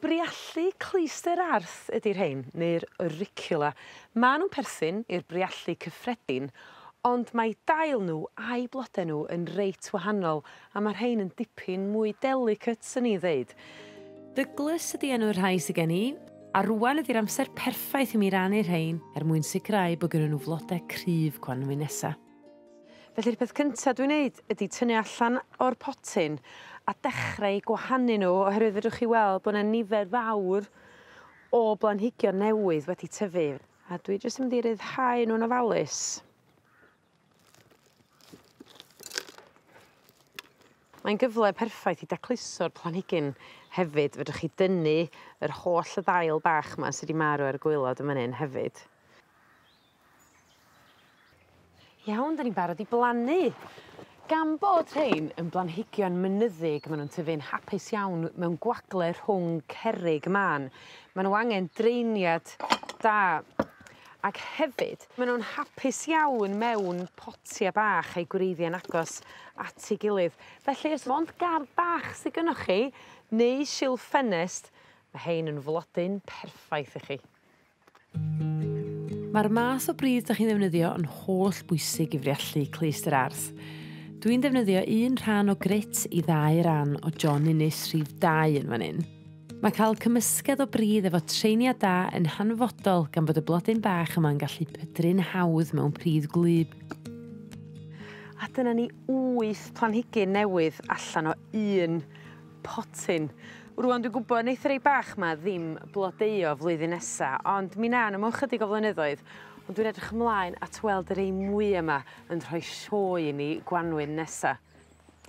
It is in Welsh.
Briallu clwyster Arth ydi rhein neu'r Auricula. Ma' nw'n perthyn i'r briallu cyffredin ond mae dail n'w a'u blode n'w yn reit wahanol a ma' rhein yn dipyn mwy delicate swn i'n ddeud. Douglas ydi enw'r rhai sy gen i a rŵan ydi'r amser perffaith i mi rannu rhein er mwyn sicrau bo' gynnon n'w flode cryf Gwanwyn nesa. Felly'r peth cynta dwi'n neud ydi tynnu allan o'r potyn a dechre 'u gwahanu n'w oherwydd fedrwch chi weld bo' 'na nifer fawr o blanhigion newydd wedi tyfu a dwi jyst yn mynd i ryddhau nw'n ofalus. Mae'n gyfle perffaith i dacluso'r planhigyn hefyd fedrwch chi dynnu yr holl ddail bach 'ma sy' 'di marw ar y gwaelod yn fan 'yn hefyd. Iawn 'dan ni'n barod i blannu. Gan bod rhein yn blanhigion mynyddig ma' nw'n tyfu'n hapus iawn mewn gwagle rhwng cerrig man ma' n'w angen draeniad da ac hefyd ma' nw'n hapus iawn mewn potie bach a'u gwreiddie'n agos at ei gilydd felly os mond gardd bach sy gynnoch chi neu silff ffenest ma' rhein yn flodyn perffaith i chi. Mae'r math o bridd 'dach chi'n ddefnyddio yn holl bwysig i friallu clust yr ardd. Dwi'n defnyddio un rhan o grêt i ddau ran o John Innes rhif dau yn fan 'yn. Mae cael cymysgedd o bridd efo treiniad da yn hanfodol gan fod y blodyn bach yma'n gallu pydru'n hawdd mewn pridd gwlyb. A dyna ni wyth planhigyn newydd allan o un potyn. Rŵan dwi'n gwbo neith y rei bach 'ma ddim blodeuo flwyddyn nesa ond mi 'na n'w mewn chydig o flynyddoedd ond dwi'n edrych ymlaen at weld y rei mwya 'ma yn rhoi sioe i ni Gwanwyn nesa.